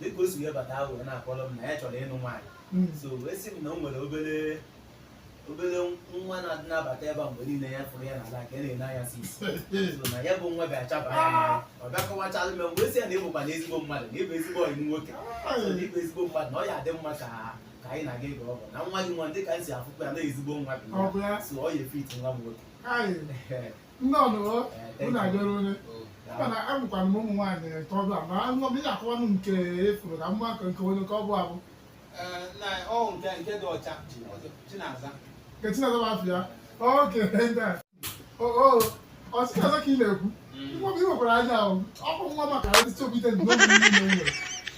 dịka o si wee bata ahụ wee na-akọrọ m na ya chọrọ ịnụ nwaanyị Mm. so wee sị m na o nwere obere obere nwa na-adị na-abata ebe a mgbe niile ya fụrụ ya n'ala ka a na-ene anya si isi so na ya bụ nwa bịa chaba ya n'anya ọ bịa kọwachalụ m wee sị ya na ị bụkwanụ ezigbo mmadụ na ị bụ ezigbo ọyị m nwoke so na ị bụ ezigbo mmadụ na ọ ya-adị mma ka ka anyị na-aga ịga ọgọ na nwa gị nwa dị ka m si afụkwa ya na ezigbo nwa bụ Ọ bụ ya? ya so ọ ya-efit nwa m nwoke Ayi. nnọọnụ unu abịara onye mana amụkwara m ụmụ nwaanyị nke ọbụla ma nwa m ị ya-akọwanụ nke ị fụrụ na mma nke nke onye nke ọ bụ abụ nke Chinaza bụ afa ya okay ndị a ọ Chinaza ka ị na-ekwu nwa m i nwekwara anya ahụ ọ bụ nwa maka ndị chọbite ndị obi niile nwere